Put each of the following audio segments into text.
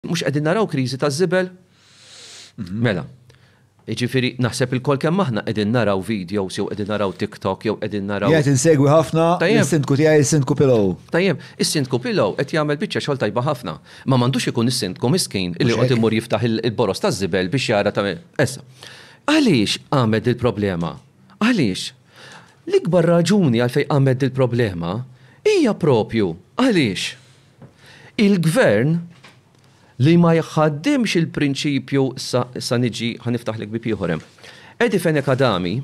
Mhux qegħdin naraw kriżi taż-żibel? Mela, jiġifieri naħseb ilkoll kemm aħna qegħdin naraw videos jew qegħdin naraw TikTok jew qegħdin naraw. Qiegħed insegwi ħafna is-Sindku tiegħi is-Sindku Pillow. Tajjeb, is-Sindku Pillow qed jagħmel biċċa xogħol tajba ħafna. Ma m'għandux ikun is-Sindku miskin li joqgħod imur jiftaħ il-boroż taż-żibel biex jara ta' issa. Għaliex qamet dil-problema? Għaliex? L-ikbar raġuni għalfejn qamet dil-problema hija proprju għaliex. Il-Gvern li ma jħaddimx il-prinċipju sa sa niġi ħa niftaħlek bieb ieħor hemm. Eddie Fenech Adami,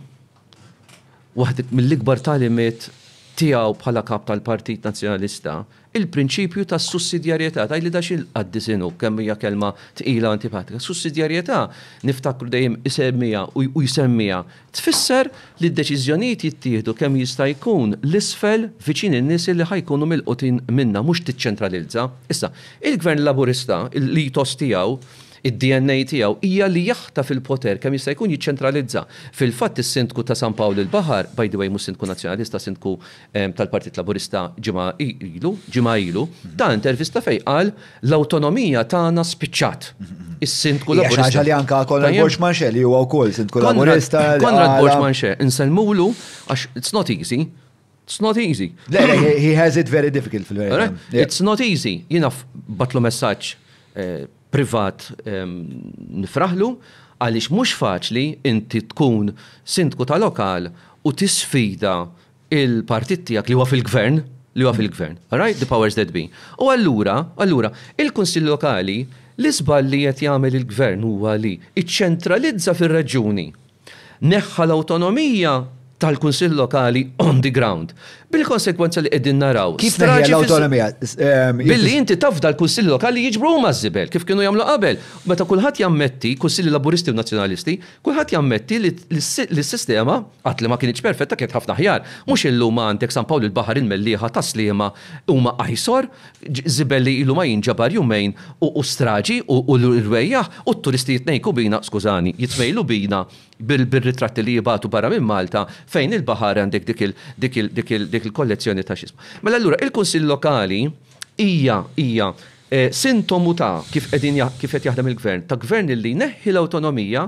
waħd mill-ikbar tagħlimiet tiegħu bħala Kap tal-Partit Nazzjonalista, il-prinċipju tas-sussidjarjetà, tgħidli da xi l-qaddis inhu, kemm hija kelma tqila u antipatika. Sussidjarjetà niftakru dejjem isemmiha u jsemmiha Tfisser li d-deċiżjonijiet jittieħdu kemm jista' jkun 'l isfel viċin in-nies li ħa jkunu milqutin minnha, mhux tiċċentralizza. Issa, il-Gvern Laburista, l-ethos tiegħu, id-DNA tiegħu, hija li jaħtaf il-poter kemm jista' jkun jiċċentralizza. Fil-fatt is-Sindku ta' San Pawl il-Baħar, by the way mhux Sindku Nazzjonalista, Sindku tal-Partit Laburista ġimgħa ilu, ġimgħa ilu, ta' intervista fejn qal l-awtonomija tagħna spiċċat. Is-Sindku Laburista. Xi li anka Konrad Borx Manxe li huwa wkoll Sindku Laburista. Konrad Borx Manxe, insellmulu għax it's not easy. It's not easy. He has it very difficult fil-verità. It's not easy. Jiena batlu messaġġ eh, privat ehm, nifraħlu għaliex mhux faċli inti tkun sindku ta' lokal u tisfida il-partit tiegħek li huwa fil-gvern, li huwa fil-gvern. Right? The powers that be. U allura, allura, il-Kunsill Lokali, l-iżball li qed jagħmel il-gvern huwa li iċċentralizza fir-reġjuni. Neħħa l-awtonomija tal-Kunsill Lokali on the ground. Bil-konsegwenza li qegħdin naraw. Kif neħħi l-awtonomija? Ehm, Billi inti tafda l-Kunsill Lokali jiġbru huma żibel kif kienu jagħmlu qabel. Meta kulħadd jammetti, Kunsilli Laburisti u Nazzjonalisti, kulħadd jammetti li s-sistema Qatt li ma kinitx perfetta kienet ħafna aħjar. Mhux illum għandek San Pawl il-Baħar il-Mellieħa tas-Sliema huma ajsor, żibel li ilu ma jinġabar jumejn u straġi u rwejjaħ u t-turisti jitnejku bina, skużani, jitmejlu bina bir-ritratti li jibgħatu barra minn Malta fejn il-baħar għandek dik il-kollezzjoni ta' x'ismu. Mela allura il-Kunsill Lokali hija hija sintomu ta' kif qegħdin kif qed jaħdem il-Gvern, ta' Gvern li jneħħi l-awtonomija